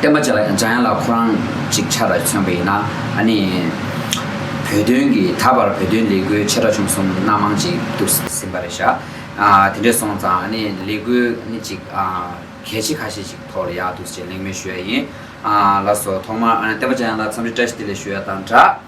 བསྟན་པ་འཇགས་ཡང་ལ་ཁོ་རང་ཅིག་ཆར་མཚོན་པ་ཡིན་ན་ནི། བོད་དོན་གྱི་ད་བར་བོད་དོན་ལས་འགུལ་ཆེ་ཕྲ་ཆུང་གསུམ་སྣ་མང་ཅིག་བསྡུར་ཟིན་པ་རེད་ཤག་དེ་འདྲས་སོང་ཙང་ནི་ལས་འགུལ་ནི་ཅིག་གལ་ཆེ་ཁ་ཤས་ཅིག་ཐོག་ལ་ཡག་འདུག་ཅེས་གླེང་མོལ་ཞུ་ཡ་ཡིན་ལགས་སོ་ཐོག་མར་བསྟན་པ་འཇགས་ཡང་ལ་འཚམས་འདྲི་བཀྲ་ཤིས་བདེ་ལེགས་ཞུ་ཡ་དང་སྦྲགས།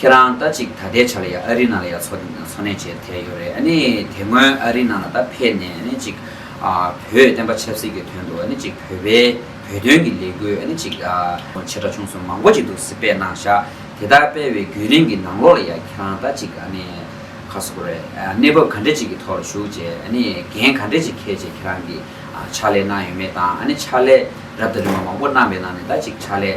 ཁྱེད་རང་ད་ཅིག་ད་ལྟའི་ཆ་ལ་ཡང་ཨ་རི་ནང་ལ་ཡང་འཚོ་འཚོ་གནས་བྱས་ཐལ་ཡོད་རེད་ཨ་ནི་དེ་སྔོན་ཨ་རི་ནང་ལ་ད་ཕེབས་ནས་ཨ་ནི་ཅིག་བོད་བསྟན་པ་ཆབ་སྲིད་ཀྱི་དོན་དུ་ཨ་ནི་ཅིག་བོད་པའི་བོད་དོན་གྱི་ལས་འགུལ་ཨ་ནི་ཅིག་ཆེ་ཕྲ་ཆུང་གསུམ་མང་པོ་ཅིག་འདུག་སི་པས་གནང་བཞག་དེ་དག་སྤེལ་བའི་བརྒྱུད་རིམ་གྱི་ནང་ལོགས་ལ་ཡང་ཁྱེད་རང་ད་ཅིག་ཨ་ནི་ཁ་སོ་ཀོར་གནས་བབ་ག་འདྲེ་ཅིག་གི་ཐོག་ལ་ཞུགས་རྗེས་ཨ་ནི་འགན་ག་འདྲེ་ཅིག་འཁེལ་རྗེས་ཁྱེད་རང་གིས་ཕྱག་ལས་གནང་ཡོད་མེད་དང་ཨ་ནི་ཕྱག་ལས་རབ་དང་རིམ་པ་མང་པོ་གནང་པའི་ནང་ནས་ད་ཅིག་ཕྱག་ལས་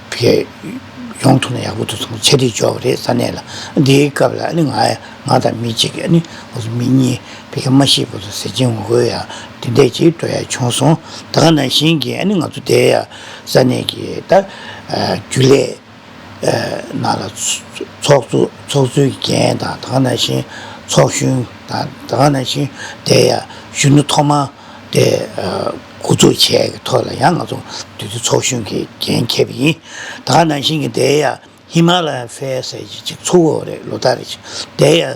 བས། ཡོང་ཐུབ་ན་ཡག་པོ་འདུག་ཚང་མ་ཆ་སྒྲིག་འཇོག་པ་རེད་ས་གནས་ལ། འདིའི་སྐབས་ལ་ནི་ང་དང་མི་གཅིག་གི་ནི་བོད་སུ་མི་གཉིས་བས་ཀྱང་མ་ཤི་བོད་སུ་ཟེར་གྱིན་ངོ་རྒོལ་ཡ་འདི་འད་ཅིག་སྤྲོ་ཡ་བྱུང་སོང་ད་ག་ནང་བཞིན་གྱི་ནི་ང་ཚོ་འདའི་ཡ་ས་གནས་ཀྱི་ད་རྒྱུ་ལས་ནང་ལ་ཚོགས་གཙོ་ཚོགས་གཙོའི་གི་འགན་དང་ད་ག་ནང་བཞིན་ཚོགས་གཞོན་དང་ད་ག་ནང་བཞིན་འདའི་ཡ་གཞོན་ནུ་ཐོག་མ་འདའི། འགོ་འཛུགས་བྱས་ཀྱི་ཐོག་ལ་ཡང་ང་ཚོ་འདུས་སྡོད་ཚོགས་གཞོན་གྱི་འགན་འཁྱེར་བ་ཡིན། ད་ནང་བཞིན་གྱི་འདའི་ཡ་ཧི་མ་ལ་ཡན་ཧྥེ་ཟེར་གྱི་གཅིག་འཚོ་བ་རེད་ལོ་ཟླ་རེ་གཅིག་འདའི་ཡ་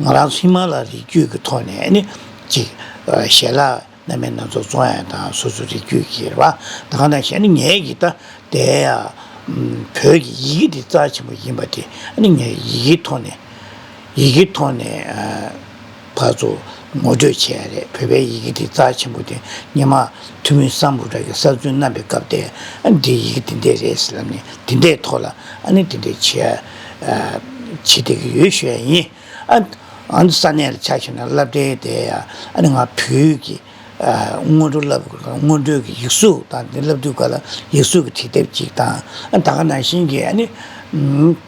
ང་རང་ཚོ་ཧི་མ་ལ་རི་རྒྱུད་ཀྱི་ཐོག་ནས་ནི་གཅིག་ཞལ་ལག་ན་མེད་ན་ཚོ་བཙོང་ཡ་དང་སོ་སོའི་རི་རྒྱུད་ཀྱི་རེད་བ་ད་གང་ནང་བཞིན་ནི་ངའི་ཡི་ད་འདའི་ཡ་བོད་ཀྱི་ཡི་གེ་འདི་རྩ་ཆེན་པོ་ཡིན་པ་དེ་ནི་ངའི་ཡི་གེའི་ཐོག་ནས་ཡི་གེའི་ཐོག་ནས། བར་དུ་ངོ་སྤྲོད་བྱས་ཡ་རེད་བོད་པའི་ཡི་གེ་དེ་རྩ་ཆེན་པོ་དེ་སྙེ་མ་ཐུ་མི་སངས་བུ་དག་གི་གསར་རྩོན་རྣམ་པའི་སྐབས་དེ་འདི་ཡི་གེ་དེ་འདྲས་རེད་ཟེར་ལབ་ནས་དེ་འདྲས་ཐོག་ལ་ཨ་ནི་དེ་འདྲས་བྱེད་བྱེད་བསྡད་ཀྱི་ཡོད་ཤོད་ཡ་ཡིན་ཨ་ཨང་ས་གནས་ལ་ཆ་ཤོད་ན་བསླབ་བསྡད་བསྡད་ཡ་ཨ་ནི་ང་བོད་ཀྱི་སྔོན་འགྲོ་བསླབ་དགོས་ཀ་སྔོན་འགྲོའི་ཡིག་གཟུགས་དང་དེ་བསླབ་དུས་ག་ལ་ཡིག་གཟུགས་ཀྱི་བྲིས་དེབ་ཅིག་དང་ད་ག་ནང་བཞིན་གྱི་ཨ་ནི་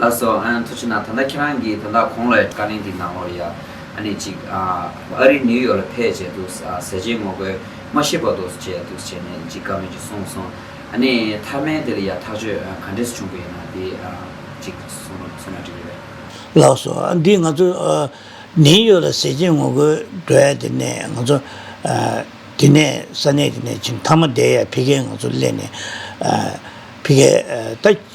ལ་སོགས་ཨན་ཐུ་ཆུ་ན་ད་ལྟ་ཁྱེད་རང་གིས་ད་ལྟ་གོང་ལ་བཀའ་ལན་གྱི་ནང་ལོར་ཡ་ཨ་ནི་ཅིག་ཨ་རི་ནིའུ་ཡོག་ལ་ཕེད་བྱས་འདུག་ཟས་བྱས་ངོ་རྒོལ་མ་ཤེས་པ་དོགས་བྱས་འདུག་བྱས་ནས་ཅིག་བཀའ་མོལ་ཅིག་གསུངས་སོང་ཨ་ནི་མཐའ་མའི་དེ་ལ་ཡ་ཐག་ཆོད་ག་འདྲས་བྱུང་པ་ཡིན་ན་དེ་ཨ་ཅིག་གསུངས་ན་འགྲིག་གི་རེད། ལ་སོགས་ཨ་འདི་ང་ཚོ་ཨ་ནིའུ་ཡོག་ལ་ཟས་བྱས་ངོ་རྒོལ་འགྲོ་ཡ་དེ་ནས་ང་ཚོ་ཨ་དེ་ནས་ས་གནས་དེ་ནས་ཅིག་མཐའ་མ་བསྡད་ཡ་ཕི་གས་ང་ཚོ་སླེ་ནས་ཨ་ཕི་གས་ད།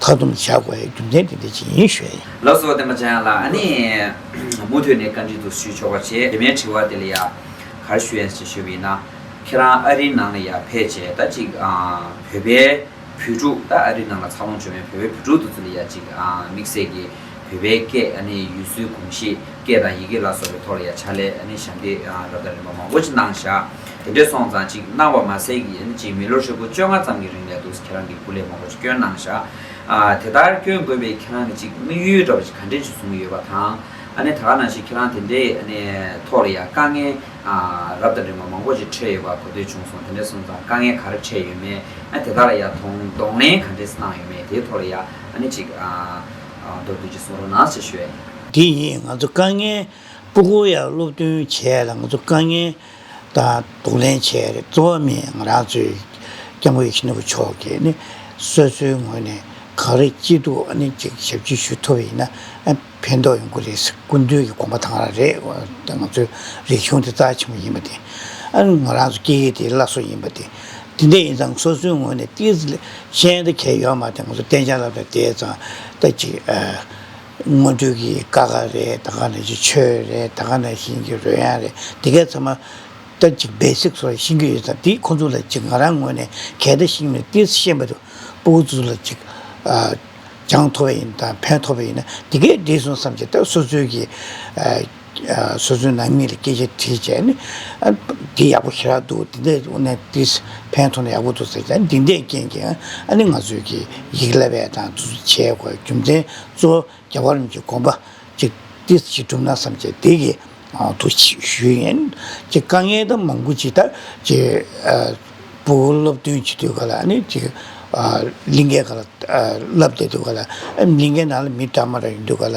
མཐའ་སྡོམ་བྱ་དགོས་པའི་རྒྱུ་མཚན་དེ་འདི་ཇི་ཡིན་ཞུས་ཡིན། ལགས་སོ་བསྟན་པ་ཅན་ལགས་ཨ་ནི། མུ་མཐུད་ནས་བཀའ་འདྲི་དུ་ཞུས་ཆོག་པ་བྱེད་དེ་མའི་དྲི་བ་དེ་ལ་ཡ། གར་ཞུ་ཡན་ཞེས་ཞུས་པ་ཡིན་ན། ཁྱེད་རང་ཨ་རིའི་ནང་ལ་ཡ་ཕེད་བྱས་ད་ཅིག་བོད་པའི་བོད་ཕྲུག་ད་ཨ་རིའི་ནང་ལ་འཚར་ལོངས་བྱུང་བའི་བོད་པའི་བོད་ཕྲུག་དུ་ཚུར་ལ་ཡ་ཅིག་དམིགས་བསལ་གྱི་བོད་པའི་སྐད་ཨ་ནི་ཡུལ་སྲོལ་གོམས་གཤིས་སྐད་དང་ཡི་གེ་ལ་སོགས་པའི་ཐོག་ལ་ཡ་བྱ་སླད་ཨ་ནི་ཞབས་འདེགས་རབ་དང་རིམ་པ་མང་པོ་ཅིག་གནང་བཞག། དེ་འདྲས་སོང་ཙང་ཅིག་གནང་བ་མ་ཟད་ཀྱི་ཡིན་ཅིག་མི་ལོ་ཧྲིལ་པོ་བཅོ་ལྔ་ཙམ་གྱི་རིང་ལས་འདུག་ཁྱེད་རང་གི་སྐུ་ལས་མང་པོ་ཅིག་སྐྱོན་གནང་བཞག་ཨ་དེ་ལྟར་སྐྱོན་དགོས་པའི་ཁྱེད་རང་གི་ཅིག་དམིགས་ཡུལ་འདྲ་པོ་ཅིག་ག་འདྲས་ཅིག་བཟུང་གི་ཡོད་པ་དང་ཨ་ནི་ད་ག་ནང་བཞིན་ཁྱེད་རང་དེ་འདྲའི་ཨ་ནི་ཐོག་ལ་ཡང་དཀའ་ངལ་ཨ་རབ་དང་འདྲེས་མ་མང་པོ་ཅིག་འཕྲད་ཡོད་པ་གོ་ཐོས་བྱུང་སོང་དེ་འདྲས་སོང་ཙང་དཀའ་ངལ་ག་རེ་འཕྲད་ཡོད་མེད་ཨ་དེ་དག་ལ་ཡང་དོང་གདོང་ལེན་ག་འདྲས་གནང་ཡོད་མེད་དེའི་ཐོག་ལ་ཡང་ཨ་ནི་ཅིག་ཨ་མདོར་བསྡུས་ཅིག་གསུང་རོགས་གནང་ཞེས་ཞུ་ཡ་ཡིན། འདི་ཡིན་ང་ཚོ་དཀའ་ངལ་སྤུ་གུ་ཡང་སློབ་སྟོན་བྱས་ལ་ང་ཚོ་དཀའ་ངལ་དང་དུ་ལེན་བྱས་རེད། གཙོ་བོ་མི་ང་རང་ཚོའི་སྐྱབས་མགོན་ཤིན་ཏུ་བུ་མཆོག་གིས་ནི་སོ་སོའི་ངོས་ནས་གང་རེ་སྐྱིད་སྡུག་ཨ་ནི་ཅིག་ཞབས་ཕྱི་ཞུ་ཐུབ་ཡིན་ན་ཕན་ཐོག་ཡོང་གི་རེད་ཟེར་སྐུ་མདུན་གྱི་དགོངས་པ་དང་ར་རེད་ང་ཚོའི་རིག་གཞུང་དེ་རྩ་ཆེན་པོ་ཡིན་པ་དེ་ཨ་ནི་ང་རང་ཚོ་སྐྱེ་ཡི་དེ་བླ་སྲོག་ཡིན་པ་དེ་དེ་འད་ཡིན་ཙང་སོ་སོའི་ངོས་ནས་ཏིས་ལེ་ཤན་ཏི་གས་ཡོད་མ་དེ་ང་ཚོ་གཏན་འཇགས་ལ་བས་དེ་ཙང་ཏི་ཅིག་ཨ། སྔོན་ཐོན་གྱི་ཀ་ཁ་རེད་ད་ག་ནས་ཀྱི་ཆོས་རེད་ད་ག་ནས་བཞིན་གྱི་རོལ་དབྱངས་རེད་དེ་གས་ཚང་མ་སྟབས་ཀྱིས་སྦས་ཚིག་སོགས་ཤིང་གི་ཡོད་ཙང་དེ་ཁོ་ཚོ་ལ་ཅིག་ང་རང་ངོས་ནས་གས་ད་ཤིང་མེད་དེ་ཤེས་མེད་དུ་པོ་ཁོ་ཚོ་ལ་ཅིག་ཅང་མཐོ་བས་ཡིན་དང་ཕན་ཐོགས་པས་ཡིན་ན་དེ་གས་འགྲིག་སོང་བསམ་གྱི་ད་སོ་སོའི་གྱི། སོ་སོའི་ནང་མི་ལ་སྐད་ཆ་དྲིས་བྱས་ནས། འདི་ཡག་པོ་ཞེ་དྲག་འདུག་འདི་འདྲས་འོ་ན་འདི་ཕན་ཐོགས་ན་ཡག་པོ་འདུག་ཟེར་བྱས་འདི་འདྲས་རྐྱེན་གྱིས་ཨ་ནི་ང་ཚོས་ཀྱི་ཡིག་བསླབ་པའི་དང་དུ་བྱས་དགོས་རྒྱུ་མཚན་གཙོ་བོ་རྒྱ་བར་མི་གོམས་པ་ཅིག་འདི་ཞིག་གྲུབ་ན་བསམ་བྱས་འདི་གི་ཐུགས་ཞུས་ཡིན། ཅེས་དཀའ་ངལ་དང་མང་པོ་ཅི་ལྟར་ཅི་བུ་སློབ་སྟོན་བྱེད་དུས་ག་ལ་ཨ་ནི་ཅིག་གླིང་གའི་ག་ལ་བསླབ་བསྡད་དུས་ག་ལ་གླིང་གའི་ནང་ལ་མི་དྲག་མ་དྲག་ཡིན་དུས་ག་ལ་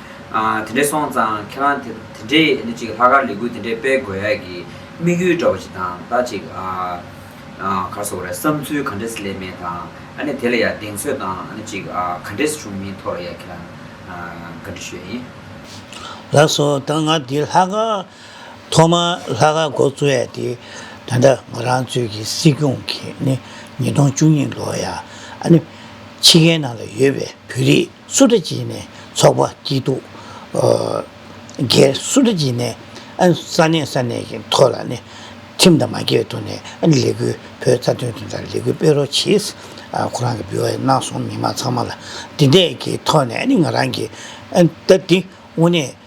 དེ་འདྲས་སོང་ཙང་ཁྱེད་རང་དེ་འདྲས་ནི་ཅིག་ལྷག་དཀར་ལི་གུ་དེ་འདྲས་སྤེལ་དགོས་ཡ་གི་དམིགས་ཡུལ་འདྲ་བོ་ཅིག་དང་ད་ཅིག་གར་སོང་རེད་བསམ་ཚུལ་ག་འདྲས་ལེན་མེད་དང་ཨ་ནི་དེ་ལ་ཡ་གདེང་ཚོད་དང་ཨ་ནི་ཅིག་ག་འདྲས་བྱུང་མིན་ཐོག་ལ་ཡ་ཁྱེད་རང་ག་འདྲས་ཤོད་ཡིན། ལགས་སོ་ད་ང་འདི་ལྷག་དཀར་ཐོག་མར་ལྷག་དཀར་མགོ་བཙུགས་ཡ་དེ་ད་ད་ང་རང་ཚོའི་གི་སྲིད་སྐྱོང་གི་ནི་ཉིས་སྟོང་བཅུ་གཉིས་ལོ་ཡ་ཨ་ནི་ཕྱི་རྒྱལ་ནང་ལ་ཡོད་པའི་བོད་རིགས་སུ་ཏྲ་ཇི་ནས་ཚོགས་པ་སྐྱིད་སྡུག་རྒྱལ། སུ་ཏྲ་ཇི་ནས་ས་གནས་ས་གནས་ཀྱི་ཐོག་ལ་ནས་ཁྲིམས་དང་མ་འགལ་ཐོག་ནས་ལས་འགུལ་བོད་རྩ་དོན་དོན་དང་ལས་འགུལ་སྤེལ་རོགས་གྱིས། ཁོ་རང་གི་བི་ཨོ་ཨེ་གནང་སོང་མི་མང་ཚང་མ་ལ་འདི་འད་ཀྱི་ཐོག་ནས་ང་རང་གིས་ད་འདི་དངོས་གནས།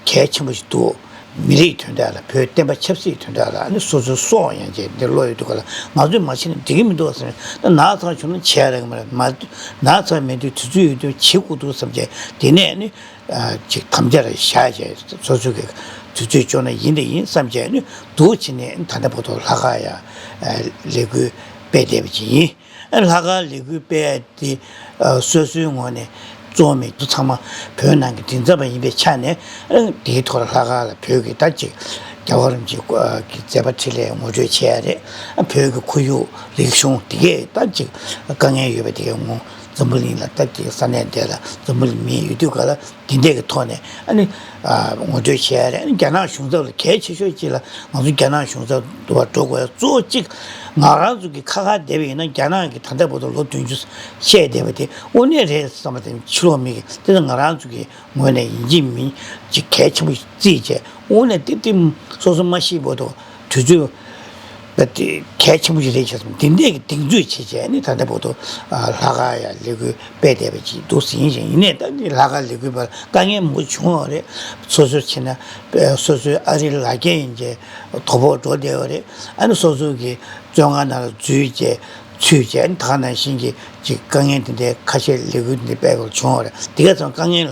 གལ་ཆེན་པོ་ཞིག་འདུག་མི་རིགས་མཐུན་སྒྲིལ་ལ་བོད་བསྟན་པ་ཆབ་སྲིད་མཐུན་སྒྲིལ་ལ་ནི་སོ་སོའི་སྲོག་ཡང་བཅད་འདི་བློ་ཡོད་འདུག་ག་ལ་ང་ཚོས་མ་བྱས་ན་འགྲིག་གི་མི་འདུག་བསམ་ན་ནག་ཚང་བྱུང་ན་བྱས་ར་གི་མ་རེད་མ་ནག་ཚང་མེད་དུས་དུས་ཚོད་ཡོད་དུས་བྱེད་དགོས་འདུག་བསམ་བྱས་དེ་ནས་ནི་ཅིག་དམ་བཅའ་ར་བཞག་བྱས་སོ་སོ་གི་དུས་ཚོད་ལྕོགས་ན་ཡིན་དང་ཡིན་བསམ་བྱས་ནི་འདུག་བྱས་ནས་ད་ལྟ་བོ་དོ་ལྷ་ཁ་ཡ་ལེ་གུས་པས་བསྡད་པ་ཅིག་ཡིན། ལྷ་དགའ་ལི་གུས་དཔེ་དེ་སོ་སོའི་ངོ་ནས་རྩོམ་མེད་དུ་ཚང་མ་བོད་ནང་གི་མགྲིན་ཚབ་པ་ཡིན་པའི་ཆ་ནས་དེའི་ཐོག་ལ་ལྷ་དགའ་ལ་བོད་ཀྱི་དར་ཅིག་རྒྱ་གོ་རིམ་གྱིས་ཀྱི་མཛད་པ་ཁྲི་ལས་ངོ་སྤྲོད་བྱས་ཡ་རེད། བོད་ཀྱི་ཁོར་ཡུག་རིག་གཞུང་དེ་གས་སྟབས་ཅིག་དཀའ་ངལ་ཡོད་པ་དེ་གས་ངོ་འཛམ་བུ་གླིང་ལ་སྟབས་ཀྱིས་ས་གནས་འདས་ལ་འཛམ་བུ་གླིང་མི་ཡོད་དུས་ག་ལ་འདི་འདེགས་ཀྱི་ཐོག་ནས་ངོ་སྤྲོད་བྱས་ཡ་རེད་རྒྱ་ནག་གཞུང་ཚབ་ལ་གལ་ཆེ་ཤོས་གཅིག་ལ་ང་ཚོ་རྒྱ་ནག་གཞུང་ཚབ་དུ་བ་འགྲོ་དགོས་གཙོ་བོ་གཅིག་ང་རང་ཚོ་གི་ཁ་ཁ་བསྡད་པ་ཡིན་ན་རྒྱ་ནག་གི་ད་ལྟ་བར་དུ་ལོ་བདུན་ཅུ་བཤད་བསྡད་པ་དེ་དབུ་གནས་རེད་བསམ་པ་དེ་ཕྱི་ལོག་མིག་གིས་དེ་ནི་ང་རང་ཚོ་གི་ངོས་ནས་ཡིན་གཅིག་མིན་གཅིག་གལ་ཆེན་པོ་རྩིས་བྱས་དབུ་གནས་ཏིབ་ཏིབ་སོ་སོ་མ་ཤེས་བར་དུ་དུས་ཚོད་ད་དེ་གལ་ཆེན་པོ་ཞིག་རེད་བྱས་སོང་དེ་འདས་ཀྱི་གདེང་ཚོད་བྱེད་ཆེད་ནི་ད་ལྟ་བོད་དུ་ལྷ་ཁ་ཡ་ལེ་ཁུ་པས་བསྡད་པ་ཅིག་འདུག་ཟིན་ཞིང་ཡིན་ནས་ད་དེ་ལྷ་ཁ་ལེ་ཁུ་པར་དཀའ་ངལ་མང་པོ་བྱུང་བ་རེད་སོ་སོའི་ཕྱི་ན་སོ་སོའི་ཨ་རིའི་ལ་རྒྱ་ཡིན་ཅེས་དོ་ཕོག་འགྲོ་བསྡད་པ་རེད་ཨ་ནི་སོ་སོའི་གི་བཙོན་ཁང་ནང་ལ་འཛུལ་ཅེས་ཚུལ་བྱས་ནི་ད་ནང་བཞིན་གྱི་གི་དཀའ་ངལ་དེ་འདས་ཁ་ཤས་ལེ་ཁུ་འདི་པས་བྱུང་བ་རེད་འདི་ག་ཚང་དཀའ་ངལ་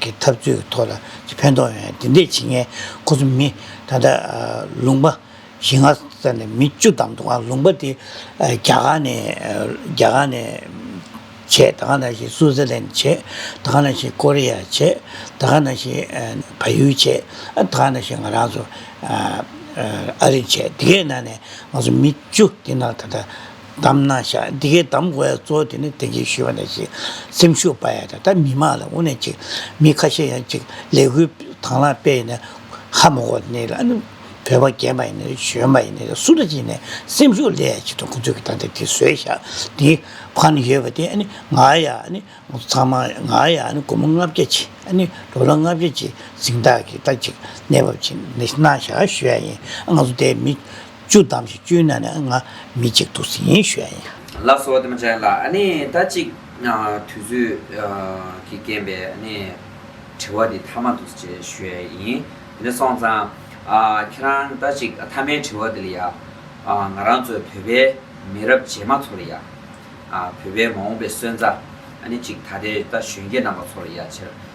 གི་འཐབ་རྩོད་ཀྱི་ཐོག་ལ་ཀྱི་ཕན་ཐོགས་ཡོད་ན་དེ་འདྲས་བྱེད་མཁན་ཁོ་ཚོ་མི་ད་ལྟ་ལུང་པ་ཞིག་ང་བཙལ་ནས་མི་བཅུ་ཙམ་འདུག་ཨང་ལུང་པ་དེ་རྒྱ་གར་ནས་རྒྱ་གར་ནས་བྱས་ད་ག་ནང་བཞིན་སུའུ་ཙེར་ལན་བྱས་ད་ག་ནང་བཞིན་ཀོ་རེ་ཡ་བྱས་ད་ག་ནང་བཞིན་བལ་ཡུལ་བྱས་ཨ་ད་ག་ནང་བཞིན་ང་རང་ཚོ་ཨ་རི་བྱས་དེ་གའི་ནང་ནས་ང་ཚོ་མི་བཅུ་དེ་ནང་ད་ལྟ། གདམས་ན་ཤ་འདི་གའི་གདམས་དགོས་ཡ་གཙོ་བོ་དེ་ནི་དེང་གི་ཞུ་བ་ནས་ཅིག་སེམས་ཤུགས་སྤར་ཡ་དང་ད་མི་མང་ལ་དབུ་ནས་ཅིག་མི་ཁ་ཤས་ཡང་ཅིག་ལས་འགུལ་དང་ལ་སྤེལ་ཡིན་ནས་ཧ་མོ་གོ་ནི་ལ་ནི་བོད་པ་རྒན་པ་ཡིན་ནས་གཞོན་པ་ཡིན་ནས་སུ་ལ་ཅིག་ནས་སེམས་ཤུགས་ལས་ཡ་ཅིག་ཏུ་ཁོ་ཚོས་གི་ད་འདི་དེ་བཟོས་ཤ་འདི་ཕར་ནི་ཡོད་པ་དེ་ནི་ང་ཡ་ནི་ཚང་མ་ང་ཡ་ནི་དགོང་མོ་ལྔ་བརྒྱ་ཅིག་ནི་འགྲོ་ལ་ལྔ་བརྒྱ་ཅིག་གཟིངས་རྟགས་གི་ད་ཅིག་གནས་བབ་ཅིག་ནི་ན་ཤ་ཞུ་ཡ་ཡིན་ང་ཚོ་དེ་མི། བཅུ་བདམས་ཤིག་བཅུའི་ནང་ནས་ང་མི་གཅིག་འདུག་ཟིན་ཡིན་ཞུ་ཡ་ཡིན། ལགས་སོ་དེ་མ་བྱས་ལ་ནི་ད་ཅིག་དུས་ཚོད་ཀྱི་རྐྱེན་པས་ནི་དྲི་བ་འདི་མཐའ་མ་འདུག་ཅེས་ཞུ་ཡ་ཡིན། དེ་ནས་སོང་ཙང་ཁྱེད་རང་ད་ཅིག་མཐའ་མའི་དྲི་བ་འདི་ལ་ཡ། ང་རང་ཚོ་བོད་པའི་མི་རབས་རྗེས་མ་ཚོ་ལ་ཡ། བོད་པའི་མ་འོངས་པའི་སོན་རྩ་ནི་ཅིག་ད་ལྟའི་ད་གཞོན་སྐྱེས་རྣམ་པ་ཚོ་ལ་ཡ་ཕྱིར།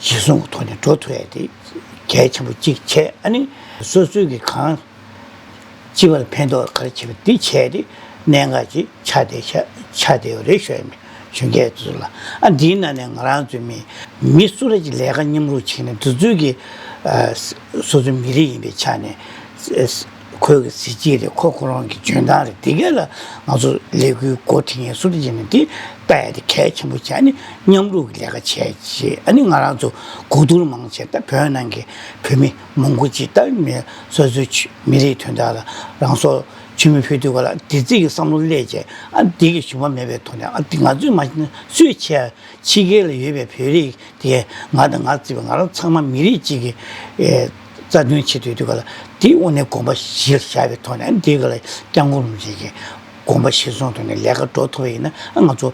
ཞེས་གསུང་གི་ཐོག་ནས་འགྲོ་ཐུ་ཨེ་ཏེ་གལ་ཆེན་པོ་གཅིག་བྱས་ཨ་ནི། སོ་སོས་ཀྱིས་གང་ཅི་བར་ཕན་ཐོགས་ག་རེ་བྱེད་པ་དེ་བྱས་ཏེ་གནད་འགག་ཅིག་ཆགས་བསྡད་ཤ་ཆགས་བསྡད་ཡོད་རེད་ཤོད་ནས་བྱོན་གལ་ཚུལ་ལ་ཨ་འདིའི་ནང་ནས་ང་རང་ཚོའི་མི་མི་སུ་ར་ཅིག་ལས་ཀ་མཉམ་རུག་བྱེད་ནས་འདི་ཚོས་ཀྱིས་སོ་སོའི་མི་རིགས་ཡིན་པའི་ཆ་ནས། ཁོས་གི་གཟི་བརྗིད་རེད་ཁོ་ཁོ་རང་གི་འཇོན་ཐང་རེད་དེ་གས་ལ་ང་ཚོ་ལས་འགུལ་སྒོ་དེ་ངས་སུ་རེ་བྱས་ནས་དེ་ལྟ་ཡ་དེ་གལ་ཆེན་པོ་བྱས་ནས་མཉམ་རུབ་ཀྱི་ལས་ཀ་བྱས་རྗེས་ཨ་ནི་ང་རང་ཚོ་གོ་བསྡུར་མང་བྱས་ད་བོད་ནང་གི་བོད་མི་མང་པོ་ཅིག་ད་མི་སོ་སོའི་ཆུ་མི་རིགས་དོན་དག་ལ་རང་སོ་ཆུ་མི་ཕུད་འདུག་ག་ལ་དེ་རྩིས་ཀྱི་བསམ་བློ་བསླེས་རྗེས་ཨ་དེ་གས་ཞུམ་པ་མེད་པའི་ཐོག་ནས་ཨ་དེ་ང་ཚོས་མ་བྱས་ན་སུས་བྱས་ཨ་ཕྱི་རྒྱལ་ལ་ཡོད་པའི་བོད་རིགས་དེ་གས་ང་དང་ང་བརྩིས་པའི་ང་རང་ཚང་མ་མི་རིགས་གཅིག་གི། རྩ་དོན་ཆེད་དུ་དེ་ག་ལ་དེའི་དབུ་ནས་དགོངས་པ་བཞེས་བྱ་བའི་ཐོག་ནས་དེ་ག་ལ་སྐྱབས་མགོན་རིན་པོ་ཆེ་ཀྱི་དགོངས་པ་གཞིར་བཟུང་ཐོག་ནས་ལས་ཀ་འགྲོ་ཐུབ་པ་ཡིན་ན་ང་ཚོ་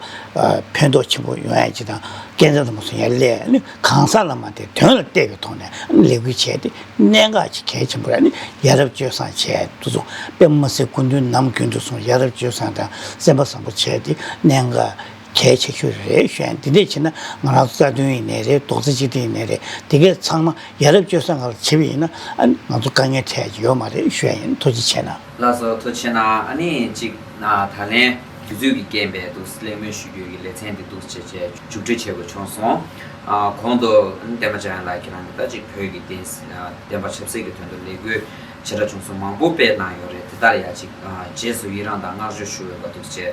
ཕན་ཐོགས་ཆེན་པོ་ཡོང་ཡ་ཇི་དང་སྐལ་བཟང་ཚང་མ་སོང་ཡ་ལས་ནི་གང་ཟག་ལ་མ་དེ་དོན་ལ་གཏད་པའི་ཐོག་ནས་ལས་འགུལ་བྱས་ཏེ་གནད་འགག་ཅིག་གལ་ཆེན་པོ་ར་ནི་ཡ་རབས་སྤྱོད་བཟང་བྱས་འདུག་ཚོ་དཔེ་མ་ཟད་སྐུ་མདུན་ནམ་རྒྱུན་དུ་སོང་ཡ་རབས་སྤྱོད་བཟང་དང་སེམས་པ་བཟང་པོ་བྱས་ཏེ་གནད་འགག་གལ་ཆེ་ཤོས་རེད་བཤད་ཡིན་འདི་འདྲས་བྱས་ན་ང་རང་རྩ་དོན་ཡིན་ནས་རེད་རྡོག་རྩ་གཅིག་སྒྲིལ་ཡིན་ནས་རེད་དེ་གས་ཚང་མ་ཡ་རབས་སྤྱོད་ས་ང་ལ་བྱེད་པ་ཡིན་ན་ཨ་ནི་ང་ཚོ་དཀའ་ངལ་འཕྲད་ཀྱི་ཡོད་མ་རེད་བཤད་ཡིན་མཐོ་གཅིག་བྱས་ན། བླ་བཟོ་མཐོ་ཆེ་ན་ཨ་ནི་གཅིག་ན་ད་ལན་དུས་ཚོད་ཀྱི་རྐྱེན་པས་འདུག་གླེང་མོལ་ཞུ་རྒྱུ་ཡི་ལེ་ཚན་འདི་འདུག་ཅེས་བཅས་མཇུག་སྒྲིལ་བྱེད་དགོས་བྱུང་སོང། གོང་དུ་ཨ་ནི་བསྟན་པ་འཇམ་དབྱངས་ལགས་ཀྱིས་རང་གི་ལྟ་ཅི་བོད་ཀྱི་བསྟན་པ་ཆབ་སྲིད་ཀྱི་དོན་དུ་ལས་འགུལ་བྱེད་གྲ་བྱུང་སོང་མང་པོ་སྤེལ་གནང་ཡོད་རེད་དེ་ལྟར་ཡ་གཅིག་རྗེས་སུ་ཡི་རངས་དང་བསྔགས་བརྗོད་ཞུ་འོས་པ་འདུག་ཅེས།